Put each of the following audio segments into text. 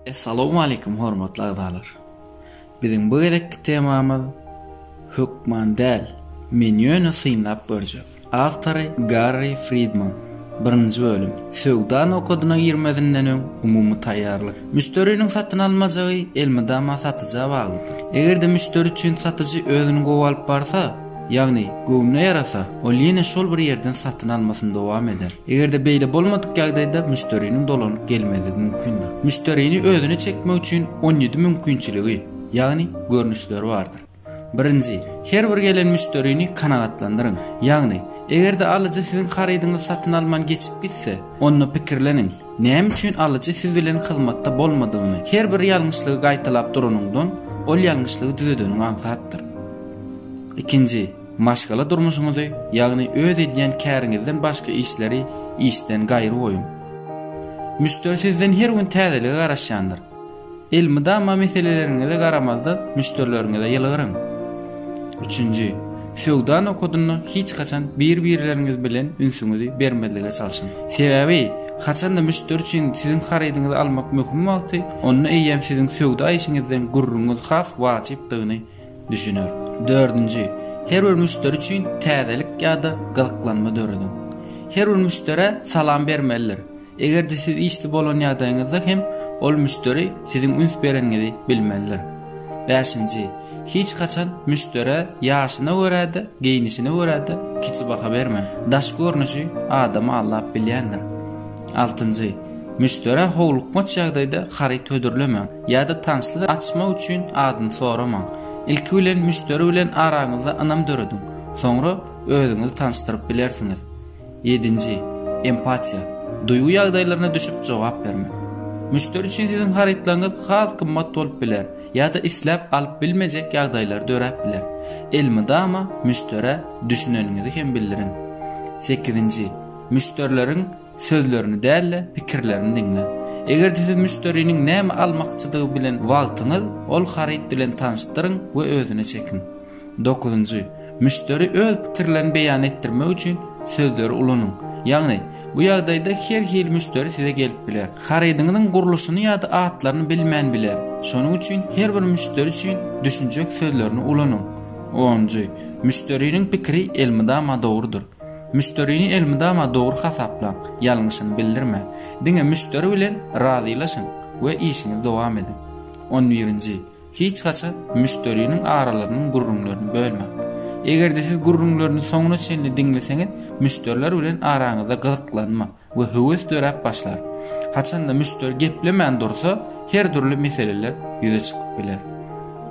Essalawmaleýkum hormatly agzalar! Biziň bu gezekki temamyz Hökman däl, men ýöne synlap görjek. Awtory Garri Fridman. Birinji bölüm. Söwda nokadyna girmezinden öň umumy taýýarlyk. Müşderiniň satyn almajagy elmydama satyja baglydyr. Eger-de müşderi üçin satyjy özüni gowy alyp barsa, Ýagny, göwnüne ýarasa, ol ýene şol bir ýerden satyn almasyny dowam eder. Eger-de beýle bolmadyk ýagdaýda müşderiniň dolanyp gelmezligi mümkindir. Müşderini özüne çekmek üçin on ýedi mümkinçiligi, ýagny görnüşleri bardyr. Birinji, her bir gelen müşderini kanagatlandyryň. Ýagny, eger-de alyjy siziň harydyňyzy satyn alman geçip gitse, onda pikirleniň. Näme üçin alyjy siz bilen hyzmatda bolmadygyny, her bir ýalňyşlygy gaýtalap duranyňdan, ol ýalňyşlygy düzedeniň aňsatdyr. Ikinji, maşgala durmuşyňyzy, ýagny öz edýän käriňizden başga işleri işden gaýry goýuň. Müşderi sizden her gün täzelige garaşýandyr. Elmydama meseleleriňize garamazdan müşderileriňize ýylgyryň. Üçünji, söwda nokadynda hiç haçan bir-birleriňiz bilen ünsüňizi bermezlige çalşyň. Sebäbi, haçanda müşderi üçin siziň harydyňyzy almak möhüm wagty, onda eýýäm siziň söwda işiňizden gürrüňiz has wajypdygyny düşüner. Dördünji, her bir müşderi üçin täzelik ýa-da gyzyklanma dörediň. Her bir müşderä salam bermelidir. Eger-de siz işli bolan ýagdaýyňyzda hem ol müşderi siziň üns bereniňizi bilmelidir. Bäşinji, hiç haçan müşderä ýaşyna görä-de, geýnişine görä-de kiçi baha bermäň. Daş görnüşi adamy aldap bilýändir. Altynjy, müşderä howlukmaç ýagdaýda haryt hödürlemäň ýa-da tanşlyk açmak üçin adyny soramaň. Ilki bilen müşderi bilen araňyzda ynam dörediň, soňra özüňizi tanyşdyryp bilersiňiz. Ýedinji, empatiýa, duýgy ýagdaýlaryna düşüp jogap bermek. Müşderi üçin siziň harytlaryňyz has gymmat bolup biler ýa-da isläp alyp bilmejek ýagdaýlar döräp biler. Elmydama müşderä düşüneniňizi hem bildiriň. Sekizinji, müşderileriň sözlerini däl-de, pikirlerini diňläň. Eger-de siz müşderiniň näme almakçydygy bilen wagtyňyz, ol haryt bilen tanyşdyryň we özüne çekiň. Dokuzynjy, müşderi öz pikirlerini beýan etdirmek üçin sözleri ulanyň. Ýagny, bu ýagdaýda her hili müşderi size gelip biler. Harydyňyzyň gurluşyny ýa-da atlaryny bilmän biler. Şonuň üçin her bir müşderi üçin düşünjek sözlerini ulanyň. Onunjy, müşderiniň pikiri elmydama dogrudyr. Müşderini elmydama dogry hasaplaň, ýalňyşyny bildirmäň. Diňe müşderi bilen razylaşyň we işiňizi dowam ediň. On birinji, Hiç haçan müşderiniň aralarynyň gürrüňlerini bölmäň. Eger-de siz gürrüňlerini soňuna çenli diňleseňiz, müşderiler bilen araňyzda gyzyklanma we höwes döräp başlar. Haçanda müşderi geplemän dursa, her dürli meseleler ýüze çykyp biler.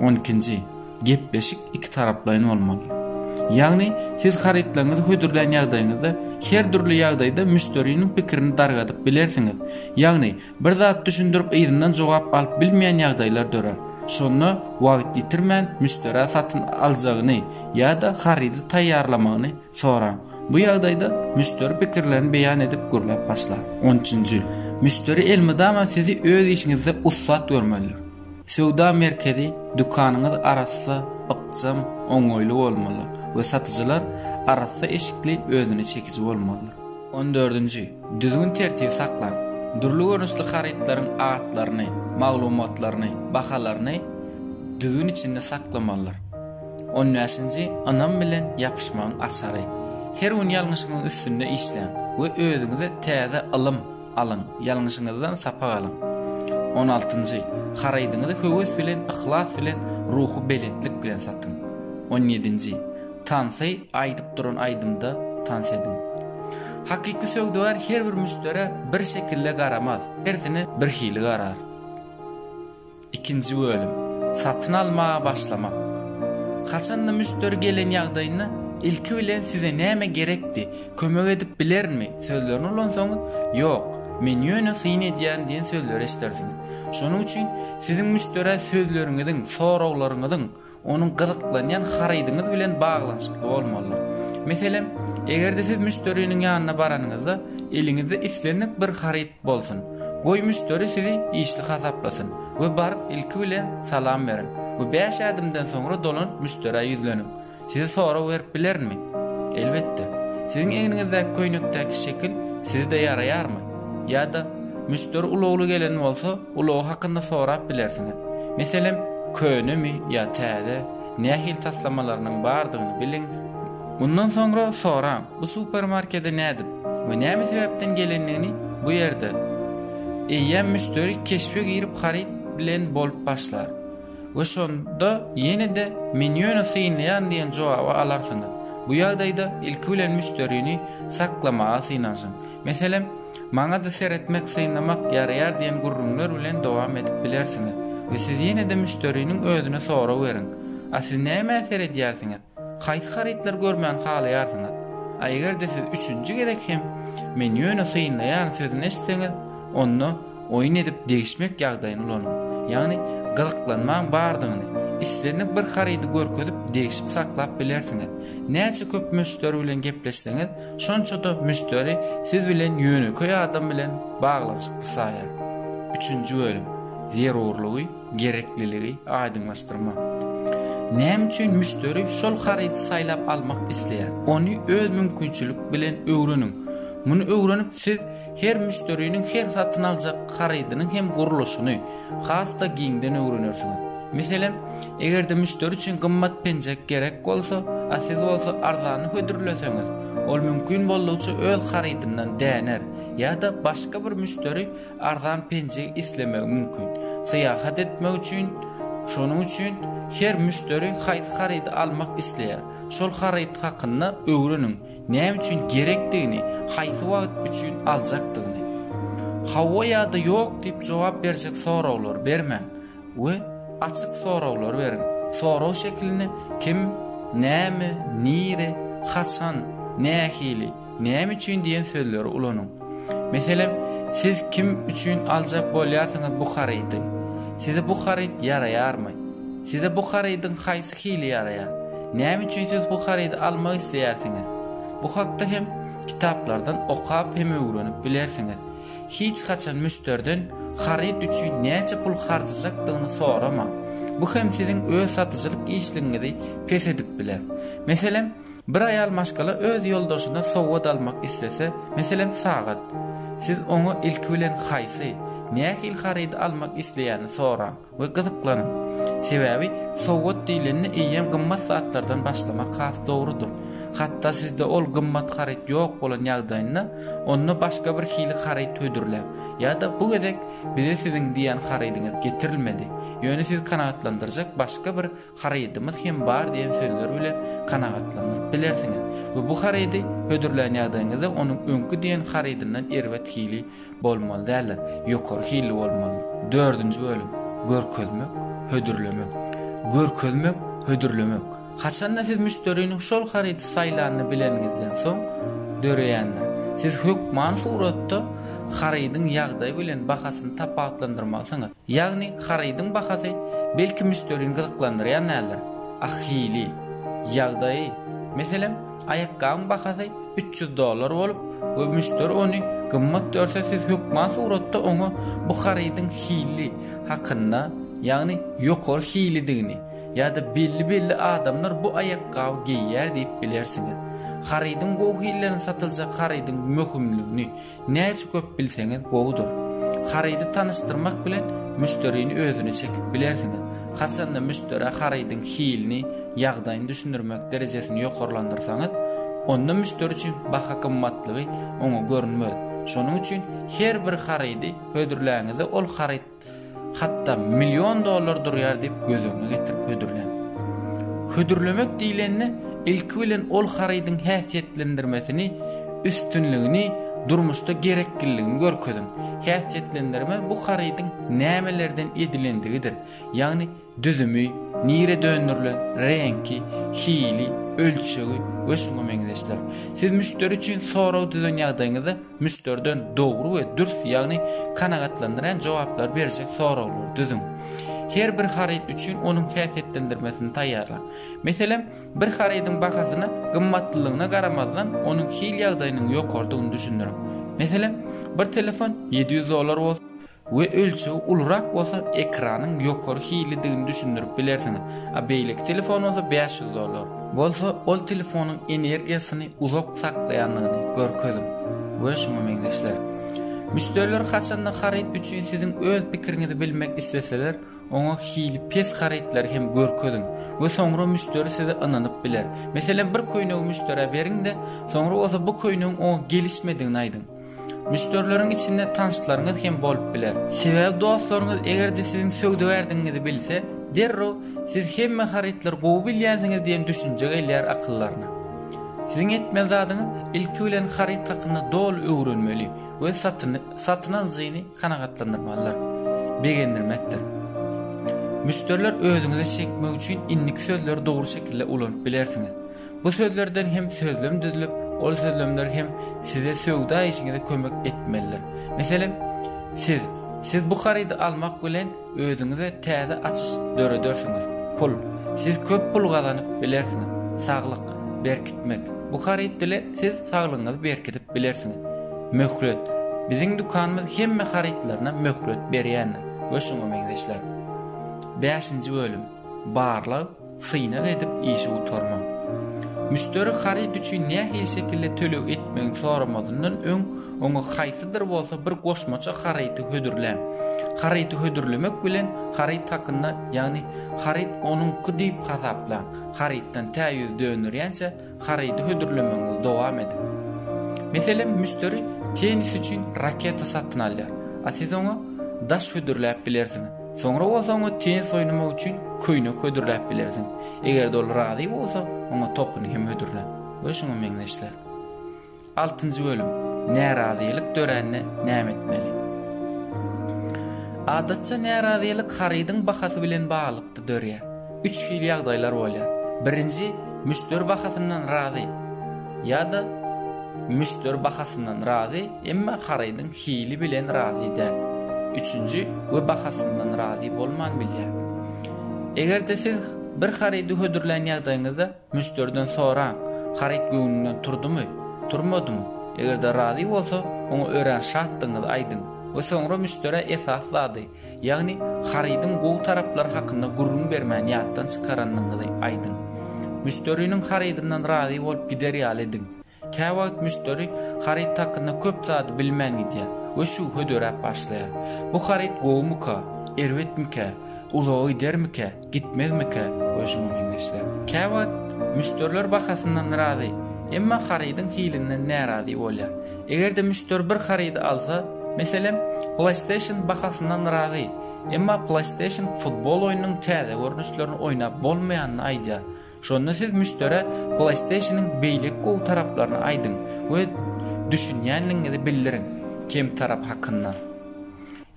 On ikinji, Gepleşik ikitaraplaýyn bolmaly. Ýagny, siz harytlaryňyzy hödürlän ýagdaýyňyzda, her dürli ýagdaýda müşderiniň pikirini dargadyp bilersiňiz. Ýagny, Bir zat düşündirip yzyndan jogap alyp bilmeýän ýagdaýlar dörär. Şonda wagt ýitirmän müşderä satyn aljagyny ýa-da harydy taýýarlamagyny soraň. Bu ýagdaýda müşderi pikirlerini beýan edip gürläp başlar. On üçünji. Müşderi elmydama sizi öz işiňizde ussat görmelidir. Söwda merkezi, dükanyňyz arassa, ykjam, oňaýly bolmalydyr we satyjylar arassa eşikli, özüne çekiji bolmalydyr. On dördünji. Düzgün-tertibi saklaň. Dürli görnüşli harytlaryň atlaryny, maglumatlaryny, bahalaryny düzgün içinde saklamalydyr. On bäşinji. Ynam bilen ýapyşmagyň açary. Her gün ýalňyşyňyzyň üstünde işläň we özüňize täze ylym alyň, ýalňyşyňyzdan sapak alyň. On altynjy. Harydyňyzy höwes bilen, yhlas bilen, ruhubelentlik bilen satyň. On ýedinji. Tansy aýdyp duran aýdymda tans ediň. Hakyky söwdagär her bir müşderä bir şekilde garamaz, hersine birhili garar. Ikinji bölüm. Satyn almaga başlamak. Haçanda müşderi gelen ýagdaýynda ilki bilen size näme gerekdi, kömek edip bilerinmi sözlerini ulansaňyz, ýok, men ýöne syn edýärin diýen sözleri eşidersiňiz. Şonuň üçin siziň müşderä sözleriňiziň, soraglaryňyzyň onuň gyzyklanýan harydyňyz bilen baglanyşykly bolmalydyr. Meselem, eger-de siz müşderiniň ýanyna baranyňyzda, eliňizde islendik bir haryt bolsun. Goý, müşderi sizi işli hasaplasyn we baryp ilki bilen salam beriň we bäş ädimden soňra dolanyp müşderä ýüzleniň. Size sorag berip bilerinmi? Elbetde. Siziň egniňizdäki köýnekdäki şekil size-de ýaraýarmy? Ýa-da, müşderi ulagly gelen bolsa, Ulagy hakynda sorap bilersiňiz. Meselem, könemi ýa täze, nähili taslamalarynyň bardygyny biliň. Mundan soňra soraň, bu supermarkede nädip we näme sebäpden gelendigini bu ýerde. Eýýäm müşderi keşbe girip haryt bilen bolup başlar we şonda ýene-de menýuny synlaýaryn diýen jogaby alarsyňyz. Bu ýagdaýda ilki bilen müşderini saklamaga synanyşyň. Meselem, Maňa-da seretmek, synlamak ýaraýar diýen gürrüňler bilen dowam edip bilersiňiz we siz ýene-de müşderiniň özüne sorag beriň, A siz nämä seredýärsiňiz? Haýsy harytlary görmäni halaýarsyňyz? A eger-de siz üçünji gezek hem Men ýöne synlaýaryn sözüni eşitseňiz, onda oýun edip degişmek ýagdaýyny ulanyň. Ýagny gyzyklanmaň bardygyny, islendik bir harydy görkezip degişip saklap bilersiňiz. Näçe köp müşderi bilen gepleşseňiz, şonça-da müşderi siz bilen ýönekeý adam bilen baglanyşykly saýar. Üçünji bölüm, zerurlygy, gerekliligi aýdyňlaşdyrma. Näme üçin müşderi şol harydy saýlap almak isleýär? Ony öz mümkinçilik bilen öwreniň. Muny öwrenip siz Her müşderiniň her satyn aljak harydynyň hem gurluşyny has-da giňden öwrenersiňiz. Meselem, eger-de müşderi üçin gymmat penjek gerek bolsa, a siz bolsa arzany hödürleseňiz, ol mümkin boldugyça öz harydyndan däner, ýa-da başga bir müşderi arzan penjegi islemegi mümkin. Syýahat etmek üçin Şonuň üçin her müşderi haýsy harydy almak isleýär, şol haryt hakynda öwreniň. Näme üçin gerekdigini, haýsy wagt üçin aljakdygyny, hawa ýa-da ýok diýip jogap berjek soraglary bermäň we açyk soraglary beriň. Sorag şekilinde kim, näme, nire, haçan, nähili, näme üçin diýen sözleri ulanyň. Meselem, siz kim üçin aljak bolýarsyňyz bu harydy? Size bu haryt ýaraýarmy? Size bu harydyň haýsy hili ýaraýar? Näme üçin siz bu harydy almak isleýärsiňiz? Bu hakda hem kitaplardan okap hem öwrenip bilersiňiz. Hiç haçan müşderiden haryt üçin näçe pul harjajakdygyny soramaň. Bu hem siziň öz satyjylyk işligiňizi pes edip biler. Meselem, Bir aýal maşgala öz ýoldaşyna sowgat almak islese, meselem, sagat. Siz oňa ilki bilen haýsy, nähili harydy almak isleýänini soraň we gyzyklanyň. Sebäbi sowgat diýlende eýýäm gymmat zatlardan başlamak has dogrudyr. Hatda sizde ol gymmat haryt ýok bolan ýagdaýynda, onda başga bir hili haryt hödürläň. Ýa-da bu gezek bize siziň diýýän harydyňyz getirilmedi, ýöne siz kanagatlandyrjak başga bir Harydymyz hem bar diýen sözler bilen kanagatlandyryp bilersiňiz we bu harydy hödürlän ýagdaýyňyzda onuň öňki diýen harydyndan erbet hili bolmaly däldir, ýokary hilli bolmaly. Dördünji bölüm, Görkezmek, hödürlemek. Görkezmek, hödürlemek, haçanda siz müşderiniň şol harydy saýlanyny bileniňizden soň döreýändir. Siz hökman suratda harydyň ýagdaýy bilen bahasyny tapawutlandyrmalysyňyz. Ýagny harydyň bahasy belki müşderini gyzyklandyrýan däldir. A hili, ýagdaýy, meselem, aýakgabyň bahasy üç ýüz dollar bolup we müşderi ony gymmat görse siz hökman suratda oňa bu harydyň hili hakynda, ýagny ýokary hilidigini ýa-da belli-belli adamlar bu aýakgaby geýýär diýip bilersiňiz. Harydyň gowy hillerini satyljak harydyň möhümligini Näçe köp bilseňiz gowudyr. Harydy tanyşdyrmak bilen müşderini özüne çekip bilersiňiz. Haçanda müşderä harydyň hilini, ýagdaýyny düşündirmek derejesini ýokarlandyrsaňyz, onda müşderi üçin baha gymmatlygy oňa görünmez. Şonuň üçin her bir harydy hödürläňizde ol haryt. Hatda million dollar durýar diýip göz öňüne getirip hödürläň. Hödürlemek diýlende, ilki bilen ol harydyň häsiýetlendirmesini, üstünligini, durmuşda gerekliligini görkeziň. Häsiýetlendirme bu harydyň nämelerden edilendigidir, ýagny Düzümi, nirä döndürilen, reňki, hili, ölçegi we şuňa meňzeşler. Siz müşderi üçin sorag düzen ýagdaýyňyzda müşderiden dogry we dürs, ýagny kanagatlandyrýan jogaplary berjek soraglary düzüň. Her bir haryt üçin onuň häsiýetlendirmesini taýýarlaň. Meselem, bir harydyň bahasyna gymmatlylygyna garamazdan, onuň hil ýagdaýynyň ýokarydygyny düşündiriň. Meselem, bir telefon ýedi ýüz dollar bolsa, we ölçegi ulurak bolsa ekranyň ýokary hilidigini düşündirip bilersiňiz, a beýleki telefon bolsa bäş ýüz dollar. Bolsa ol telefonyň energiýasyny uzak saklaýandygyny görkeziň we şuňa meňzeşler. Müşderiler haçanda haryt üçin siziň öz pikiriňizi bilmek isleseler, oňa hili pes harytlary hem görkeziň we soňra müşderi size ynanyp biler. Meselem bir köýnegi müşderä beriň-de, soňra bolsa bu köýnegiň oňa gelişmedigini aýdyň. Müşderileriň içinde tanyşlaryňyz hem bolup biler. Sebäbi dostlaryňyz eger-de siziň söwdagärdigiňizi bilse, derrew siz hemme harytlary gowy bilýänsiňiz diýen düşünje gelýär akyllaryna. Siziň etmeli zadyňyz ilki bilen haryt hakynda doly öwrenmeli we satyny satyn alyjyny kanagatlandyrmalydyr, begendirmekdir. Müşderiler özüňize çekmek üçin indiki sözleri dogry şekilde ulanyp bilersiňiz. Bu sözlerden hem sözlem düzülip, ol sözlemler hem size söwda işiňize kömek etmelidir. Meselem, siz, Siz bu harydy almak bilen özüňize täze açyş döredersiňiz. Pul, Siz köp pul gazanyp bilersiňiz. Saglyk, Berkitmek, Bu haryt bilen siz saglygyňyzy berkidip bilersiňiz. Möhlet, Biziň dükanymyz hemme harytlaryna möhlet berýändir we şuňa meňzeşler. Bäşinji bölüm, Barlag, Synag edip işi gutarma. Müşderi haryt üçin nähili şekilde töleg etmegini soramazyndan öň, oňa haýsydyr bolsa bir goşmaça haryty hödürläň. Haryty hödürlemek bilen, haryt hakynda, ýagny haryt onuňky diýip hasaplaň. Harytdan tä ýüz dönderýänçä, harydy hödürlemegiňizi dowam ediň. Meselem, müşderi tennis üçin raketa satyn alýar, a siz oňa daş hödürläp bilersiňiz. Soňra bolsa oňa tennis oýnamak üçin köýnek hödürläp bilersiňiz. Eger-de ol razy bolsa, oňa topuny hem hödürläň we şuňa meňzeşler. Altynjy bölüm Närazylyk dörände näme etmeli? Adatça närazylyk harydyň bahasy bilen baglylykda dörýär. Üç hili ýagdaýlar bolýar. Birinji, müşderi bahasyndan razy ýa-da müşderi bahasyndan razy, emma harydyň hili bilen razy däl. Üçünji we bahasyndan razy bolman bilýär. Eger-de siz bir harydy hödürlän ýagdaýyňyzda Müşderiden soraň, haryt göwnünden turdumy, turmadymy? Eger-de razy bolsa, oňa örän şatdygyňyzy aýdyň we soňra müşderä esasy zady, ýagny harydyň gowy taraplary hakynda gürrüň bermän ýatdan çykaranyňyzy aýdyň. Müşderiniň harydyndan razy bolup gider ýaly ediň. Käwagt müşderi haryt hakynda köp zady bilmän gidýär we şübhedöräp başlaýar. Bu haryt gowumyka, erbetmikä, uzaga gidermikä, gitmezmikä we şuňa meňzeşler. Käwagt müşderiler bahasyndan razy, emma harydyň hilinden närazy bolýar. Eger-de müşderi bir harydy alsa, meselem, PlayStation bahasyndan razy, emma PlayStation futbol oýnunyň täze görnüşlerini oýnap bolmaýanyny aýdýar Şonda siz müşderä PlayStation-yň beýleki gowy taraplaryny aýdyň we düşünýänligiňizi bildiriň, kem tarap hakynda.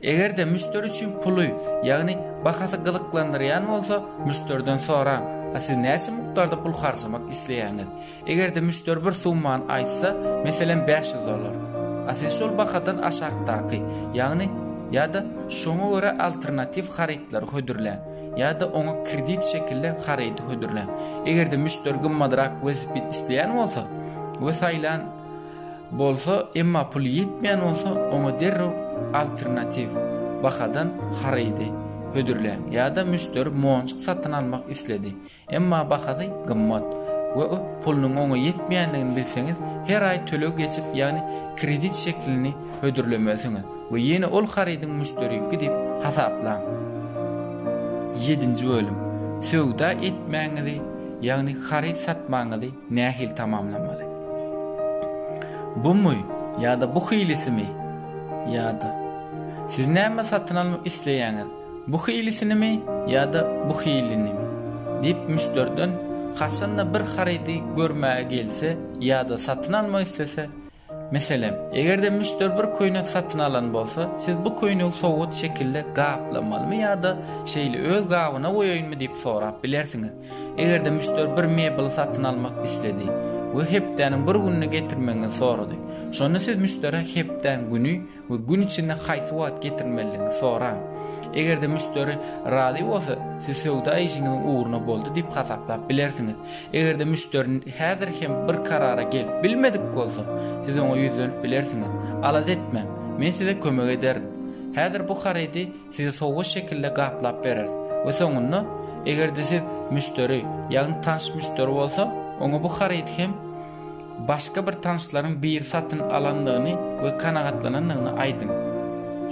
Eger-de müşderi üçin puly, ýagny bahasy gyzyklandyrýan bolsa, müşderiden soraň, A siz näçe mukdarda pul harjamak isleýäňiz? Eger-de müşderi bir summany aýtsa, meselem, bäş ýüz dollar. A siz şol bahadan aşakdaky, ýagny, ýa-da şoňa görä alternatiw harytlary hödürläň. ýa-da oňa kredit şekilde harydy hödürläň. Eger-de müşderi gymmadrak welosiped isleýän bolsa we saýlan bolsa, emma puly ýetmeýän bolsa, oňa derrew alternatiw bahadan harydy hödürläň. Ýa-da müşderi monjuk satyn almak isledi. Emma bahasy gymmat we pulunyň oňa ýetmeýändigini bilseňiz, her aý töleg geçip, ýagny kredit şeklini hödürlemelisiňiz we ýene ol harydyň müşderiki diýip hasaplaň. Ýedinji bölüm. Söwda etmäňizi, ýagny haryt satmagyňyzy nähili tamamlamaly? Bumy ýa-da bu hilisimi? Ýa-da. Siz näme satyn almak isleýäňiz? Bu hilisinimi ýa-da bu hilinimi? diýip müşderiden haçanda bir harydy görmäge gelse ýa-da satyn almak islese, meselem, eger-de müşderi bir köýnek satyn alan bolsa, siz bu köýnegi sowgat şekilde gaplamalymy ýa-da şeýle öz gabyna goýaýynmy diýip sorap bilersiňiz. Eger-de müşderi bir mebeli satyn almak isledi we hepdäniň bir gününe getirmegiňizi sorady, şonda siz müşderä hepdäň güni, we gün içinde haýsy wagt getirilmelidigini soraň. Eger-de müşderi razy bolsa, siz söwda işiňiziň ugruna boldy diýip hasaplap bilersiňiz. Eger-de müşderi häzir hem bir karara gelip bilmedik bolsa, siz oňa ýüzlenip bilersiňiz, Alada etmäň, men size kömek ederin. Häzir bu harydy Size sowgat şekilde gaplap bereris we soňunda, eger-de siz müşderi, ýagny tanyş müşderi bolsa, oňa bu harydy hem başga bir tanyşlaryň biri satyn alandygyny we kanagatlanandygyny aýdyň.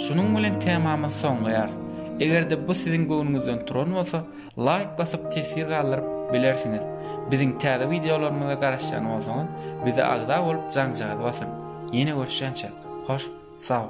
Şunuň bilen temamyzy soňlaýarys. Eger-de bu siziň göwnüňizden turan bolsa, laýk basyp teswir galdyryp bilersiňiz. Biziň täze wideolarymyza garaşýan bolsaňyz, bize agza bolup jaňjagazy basyň. Ýene görüşýänçä, hoş sag boluň!